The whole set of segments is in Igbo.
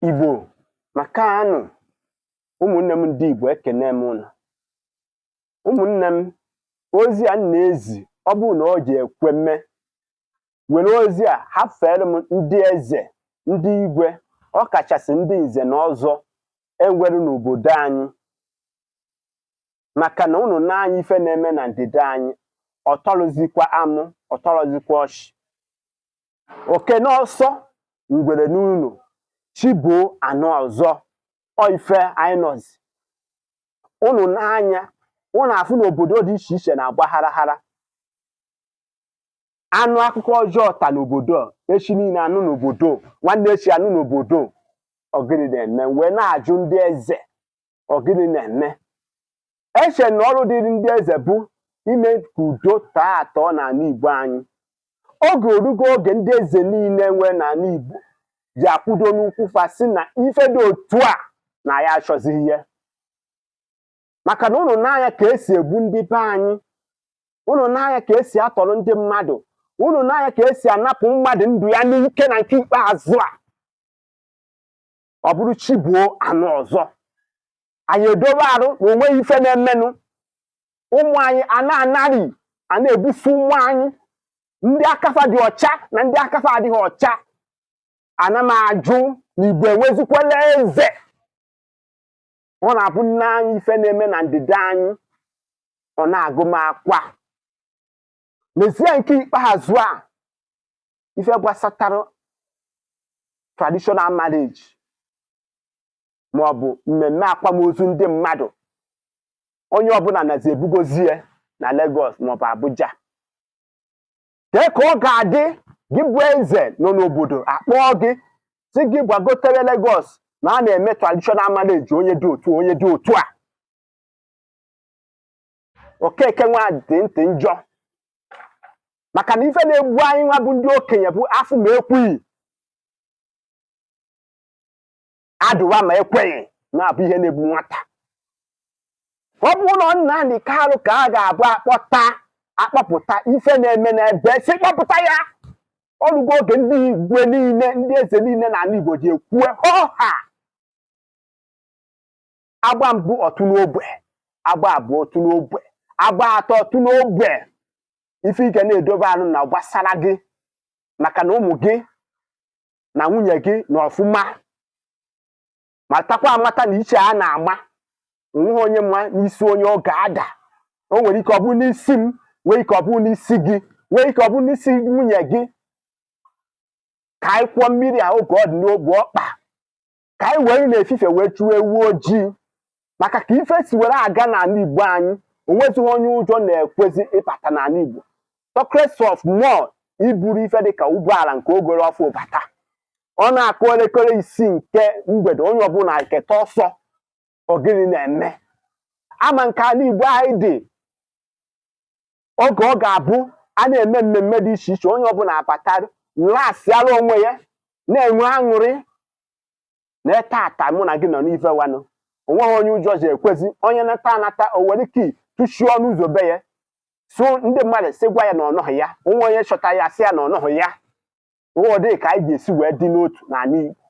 Igbo makanụ ụmụnne m ndị Igbo ekene m ụnụ ụmụnne m ozi a na-ezi ọ bụrụ na ọ ji ekwe mme were ozi a hafere m ndị eze ndị igwe ọ kachasị ndị nze na ọzọ enwere n'obodo anyị maka na ụnụ nee anya ife na-eme na ndị be anyị ọ tọrọzikwa amụ ọ tọrọzikwa ọchị oke n'ọsọ ngwere n'ụlọ chi boo anụ ọzọ ọ ife anyị nọzi ụnụ nee anya ụnụ afụ na obodo dị iche iche na-agba harahara anụ akụkọ ọjọọ ta n'obodo echi niile anụ n'obodo nwanne echi anụ n'obodo ọ gịnị na-eme wee na-ajụ ndị eze ọ gịnị na-eme eche m na ọrụ dịrị ndị eze bụ ime ka udo tọọ atọ n'ala Igbo anyị oge orugo oge ndị eze niile nwee n'ala Igbo ji akwụdo n'ụkwụ fa sị na ife dị otu a na ya achọzighị ya maka na ụnụ nee anya ka esi egbu ndị be anyị ụnụ nee anya ka esi atọrọ ndị mmadụ ụnụ nee anya ka esi anapụ mmadụ ndụ ya n'ike na nke ikpeazụ a ọ bụrụ chi boo anụ ọzọ anyị edobe arụ na onweghị ife na-emenụ ụmụ anyị a na-anarị a na-egbusi ụmụ anyị ndị aka fa dị ọcha na ndị aka fa adịghị ọcha ana m ajụ na Igbo enwezikwala eze ọ na-abụ m nee anya ife na-eme na ndị be anyị ọ na-agụ m akwa nezie nke ikpeazụ a ife gbasatara traditional marriage ma ọ bụ mmemme akwamozu ndị mmadụ onye ọbụla nazi ebugozi ya na Lagos maọbụ Abuja kee ka ọ ga-adị gị bụ eze nọ n'obodo akpọọ gị sị gị gbagotere Lagos na a na-eme traditional marriage onye dị otu a onye dị otu a okeke nwa dị ntị njọ maka na ife na-egbu anyị nwa bụ ndị okenye bụ afụ ma ekwughị adụwa ma ekweghị na-abụ ihe na-egbu nwata ọ bụrọ Nnamdi Kanu ka a ga-abụ akpọta akpọpụta ife na-eme na-ebe sị kpọpụta ya orugo oge ndị igwe niile ndị eze niile n'ala Igbo ji ekwue hoo ha agba mbụ ọ tụ n'ogwe agba abụọ ọ tụ n'ogwe agba atọ ọ tụ n'ogwe ife ị ka na-edobe anụ na gbasara gị maka na ụmụ gị na nwunye gị nọ ọfụma matakwa amata na iche a na-ama nweghị onye ma n'isi onye ọ ga-ada o nwere ike ọ bụrụ n'isi m nwee ike ọ bụrụ n'isi gị nwee ike ọ bụrụ n'isi nwunye gị ka anyị kwọọ mmiri a oge ọ dị n'obu ọkpa ka anyị were n'efifie wee chụọ ewu ojii maka ka ife si were aga n'ala igbo anyị onwezighị onye ụjọ na-ekwezi ịbata n'ala igbo talkless of more iburu ife dịka ụgbọala nke ọ goro ọfụụ bata ọ na-akụ elekere isii nke mgbede onye ọbụla eketa ọsọ ọ gịnị na-eme ama nke ala igbo anyị dị oge ọ ga-abụ a na-eme mmemme dị iche iche onye ọbụla abata lasịara onwe ya na-enwe aṅụrị na tata mụ na gị nọ n'ife wanụ onweghị onye ụjọ ji ekwezi onye nata anata o were key tụchie ọnụ ụzọ be ya so ndị mmadụ sị gwa ya na ọ nọghị ya o nwee onye chọta ya sị ya na ọ nọghị ya ọ dị ka anyị ga-esi wee dị n'otu n'ala Igbo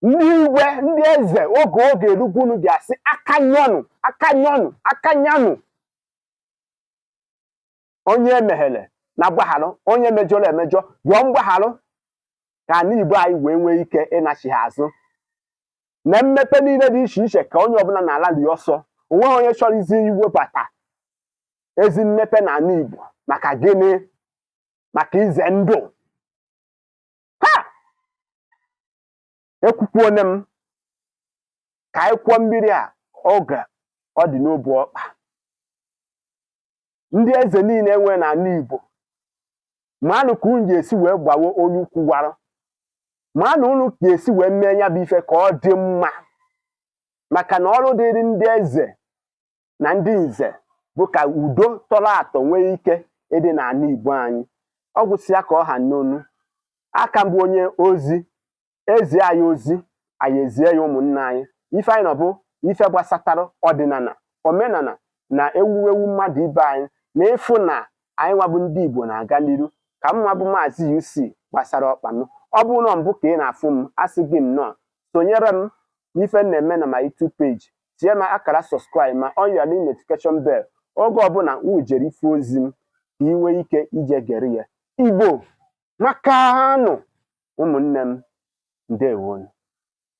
ndị igwe ndị eze oge erugo unu ga-asị aka nyọnụ aka nyọnụ aka nyanụ onye emeghere na gbagharụ onye mejọrọ emejọ yọọ mgbagharụ ka ala Igbo anyị wee nwee ike ịnachigha azụ na mmepe niile dị iche iche ka onye ọbụla na-ala dị ọsọ onweghị onye chọrọzi iwebata ezi mmepe n'ala Igbo maka gịnị maka ize ndụ ekwukwuone m ka anyị kwọọ mmiri a oge ọ dị n'obu ọkpa ndị eze niile e nwere n'ala Igbo manụ ka unu ga-esi wee gbawe onye ukwu gwara manụ unu ga-esi wee mee ya bụ ife ka ọ dị mma maka na ọrụ dịrị ndị eze na ndị nze bụ ka udo tọrọ atọ nwee ike ịdị n'ala Igbo anyị ọ gwụsịa ka ọ ha n'ọnụ a ka m bụ onye ozi e zie anyị ozi anyị ezie ya ụmụnna anyị ife anyị nọ bụ ife gbasatara ọdịnala omenala na ewuwewu mmadụ ibe anyị na ịfụ na anyị nwa bụ ndị Igbo na-aga n'iru ka mma bụ maazị UC gbasara ọkpa m ọ bụrụ na mbụ ka ị na-afụ m asị gị nnọọ sonyere m n'ife na-eme na my YouTube page tie m akara subscribe ma on your notification bell oge ọbụla m jere ife ozi m ka ị nwee ike ije gere ya igbo makanụ ụmụnne m ndewonu